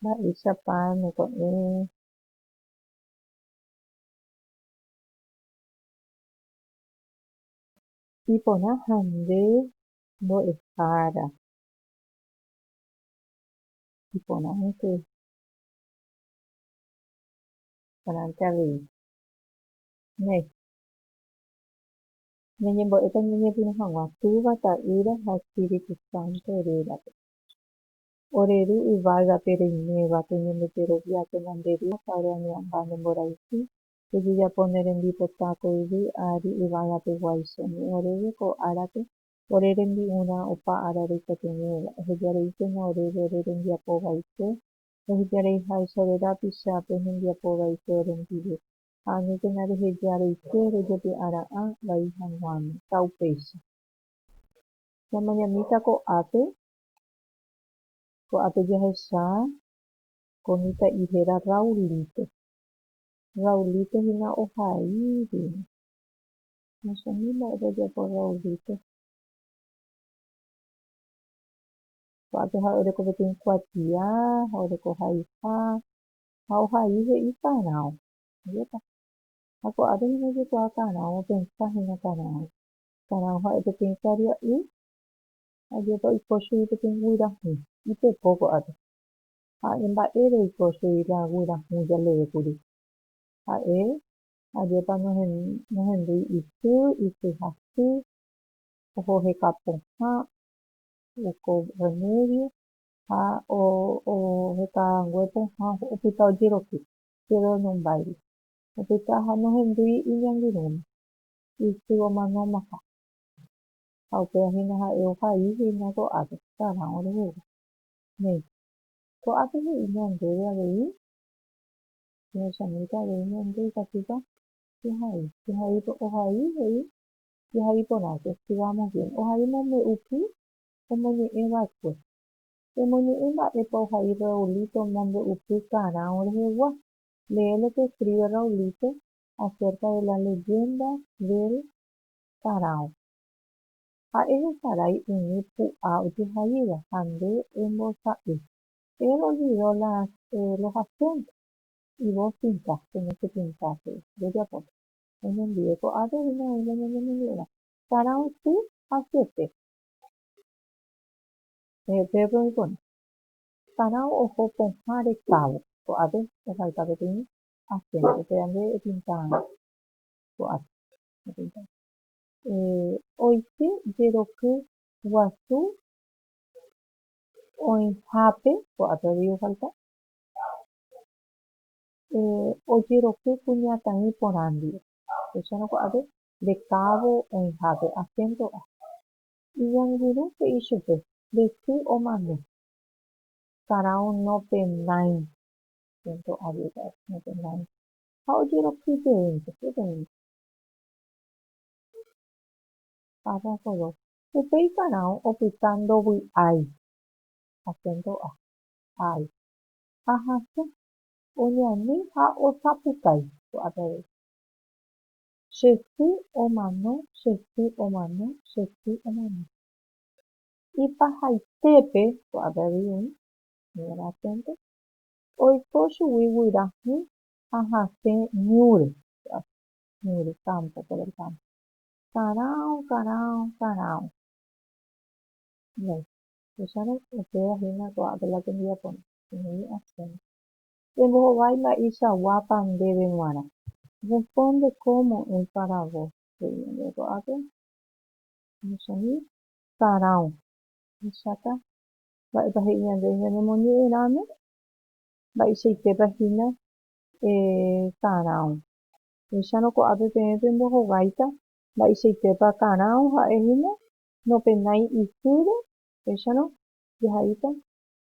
Mba'éichapa neko'ẽ iporã ha nde mbo'ehára iporãnte avei? Néi. Ñañembo'éta ñañepyrũ hag̃ua Túva, Ta'ýra ha Espíritu Santo rérape. Ore Ru yvágape reiméva, peñembojerovia, pemanderia ha ore añe'ãmba ne mborayhu, pejejapo ne rembipota ko yvy ári yvagapeguái. Che añe'ẽ oréve ko árape ore rembi'urã opa ára reikotevẽva. Ehejareíkena oréve ore rembiapo vaikue, ehejareiháicha ore rapicha pe hembiapo vaikue orendive. ha añetegã reheja areite rojepi'ara'ã vai hag̃uáme. Ta upéicha. Ñamañamíta ko'ápe, ko'ápe jahecha ko mitã'i héra Raulito. Raulito hína ohai hína. Nochami mba'e rojapo Raulito. Ko'ápe ha'e oreko peteĩ kuatia ha oreko haiha, ha ohai he'i karão. Ajépa. Ha ko'ápe hína ojekuaa karão, opensa hína karão. Karão ha'e peteĩ karia'y, ajépa oiko chugui peteĩ guyrahũ. Ipeko ko'ápe. Ha'e mba'ére oiko chugui la guyrahũ jaleve kuri. Ha'e, ajépa nohendúi isy, isy hasy, oho heka pohã, oiko remédio, ha ohetarangue pohã opyta ojeroky chéve oñombáire. Opyta ha nohendúi iñangirũme, isy omanómaha. Ha upéva hína ha'e ohai hína ko'ápe térã orehegua. Néi, ko'ápe he'i ñandéve avei, Señor Chamílcar avei ñande ikatúpa jehai. Jehai, ohai, he'i jehai porãke, escribamos bien, ohai mombe'upy omoñe'ẽ va'ekue. Emoñe'ẽ mba'épa ohai Raulito omombe'upy karão rehegua. Lee lo que escribe Raulito acerca de la leyenda del karão. Ha'e hesarái umi pu'a ojehaíva ha nde embosa'y. Él olvidó las, eh, los acentos. Y vos pintás, tenés que pintar, he'i. Ndojapóta. Oñondive ko'ápe oĩmava'erã ñanemoñe'ẽva. Karão sy ha syete. Pedro oikórõ. Parao oho pohã rekávo, ko'ápe ohayka peteĩ asénto. Upe ande epinta ko'ápe. Oike jeroky guasu oĩhápe, ko'ápe avei ohayka. Ojeroky kuñataĩ porã ndive. Upéicharõ ko'ápe nde kávo oĩha pe asénto a. Iñangirũ he'i chupe nde sy omano. Karao nopendãi. Asénto a jey ka'e nopendãi. Ha ojeroky jeýnte, peteĩ. Párrafo dos. Upéi karao opyta ndovy'ái. Asénto a. Ái. Ha hasẽ. Oñani ha osapukái. Ko'ápe avei. Che sy omano, che sy omano, che sy omano. Ipahaitépe ko'ápe avei oĩ, señora Asense, oiko chugui guyra hũ ha hasẽ ñúre ko'ápe, ñúre campo, por el campo. Karao, karao, karao. Bueno, tuichárõ, upéva hína ko'ápe la tembiaporã, he'i Asense. Embohovái mba'eichaguápa ndéve g̃uarã. Responde cómo en para vos. Sarão. Ahecháta mba'épa he'i ñandéve ñanemoñe'ẽrãme, mba'eichaitépa hína karão. Péicharõ ko'ápe peẽ pembohováita mba'eichaitépa karão ha'e hína, nopenái isýre, péicharõ jahaíta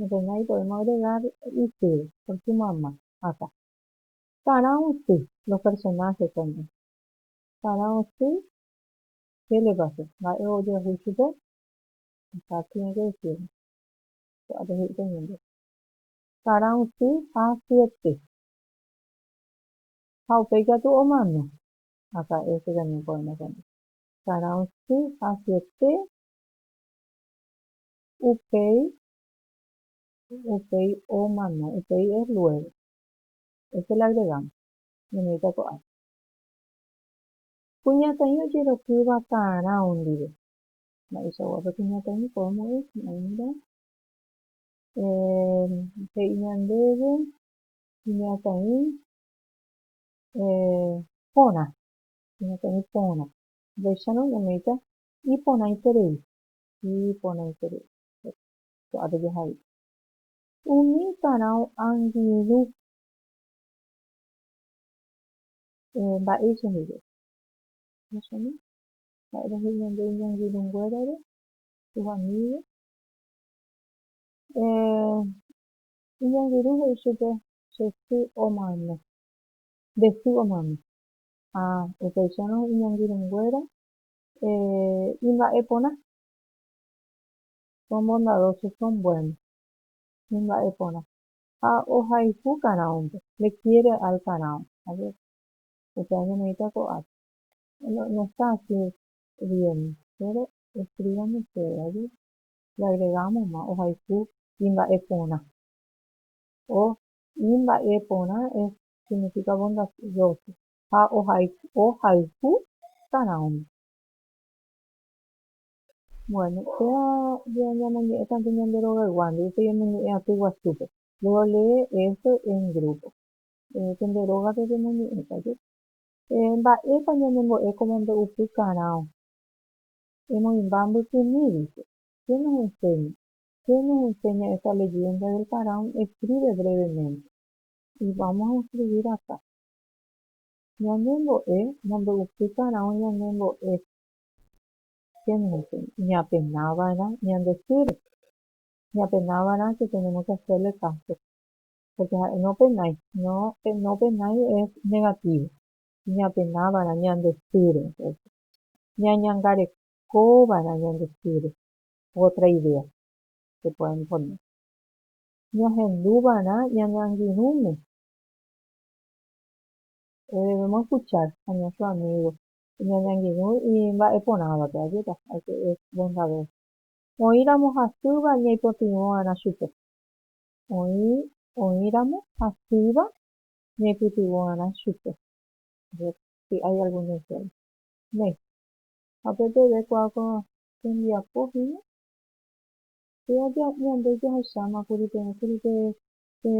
Enfermera ipovéma oregár isýre, pórke mayma hatã. Tara osy, los personajes también. Tara osy, qué le pasó? Mba'e ojoaju chupe? Acá tiene que decirnos. Ko'ápe he'i pe ñemby. Tara osy ha syete. Ha upéi katu omano. Acá este también poema también. Tara osy ha syete. Upéi, upéi omano, upéi es luego, ese le agregamos, ñane'ẽta ko'ápe. Kuñataĩ ojeroky vakarão ndive. Mba'eichagua pe kuñataĩ podemos decir, a mira, eh, he'i ñandéve kuñataĩ eh, porã, kuñataĩ porã. Upéicharõ ñane'ẽta iporãiterei. iporãiterei ko'ápe jaha'i. Umi karão angirũ mba'éi chehegui. Ahechami mba'épa he'i ñande iñangirũnguérare tuvamígui. Iñangirũ he'i chupe che sy omano, nde sy omano. Ha upeichárõ iñangirũnguéra Eh, imba'e porã. Son bondadosos, son buenos. Imba'e porã. Ha ohayhu karãunte. Le quiere al karão, a ver. Upéva ñaneíta ko'ápe. No, no está así bien, pero escríbame usted, a ver. Le agregámosma, ohayhu imba'e porã. O imba'e porã es, significa bondadoso. ha ohayhu tarãóme. Bueno, péva ya ñamoñe'ẽtante ñande rogayguándi, upéi emoñe'ẽ aty guasúpe, luego lee esto en grupo. Pende rógape pemoñe'ẽta jepe. Mba'épa ñanembo'e como mbe'upykarão? Emoĩmba mbykymi, dice. ¿Qué nos enseña? Qué nos enseña esta leyenda del faraón? Escribe brevemente. Y vamos a escribir acá. Ñane mbo'e nombo'upukarão ñane mbo'e chénente ñapenava'erã ñande sýre, ñapenava'erã que tenemos que hacerle caso, porque ha'e nopenái, no nopenái es negativo, ñapenava'erã ñande sýre, entonces ñañangarekova'erã ñande sýre, otra idea que pueden poner, ñahenduva'erã ñane angirũme, Erevéma escuchar a nuestro amigo, ñañangirũ imba'eporãvape, ajéta, hay que es buen saber. Oĩramo hasýva ñaipytyvõ'arã chupe. Oĩ oĩramo hasýva ñaipytyvõ'arã chupe. A ver si hay algún ejemplo. Néi, hapeteve kua ko tembiapo hína, péva ñande jahecháma kuri peẽ kuri pe Che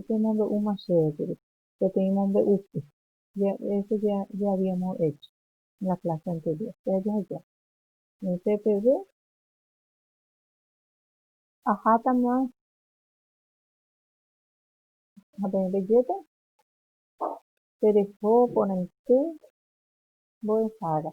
pemombe'úma chéve kuri, peteĩ mombe'úpe, eso ya habíamos hecho en la clase anterior, che ajaheja. Pe peve, ahátama ha peẽ pejéta, pereho porãite mbo'ehára.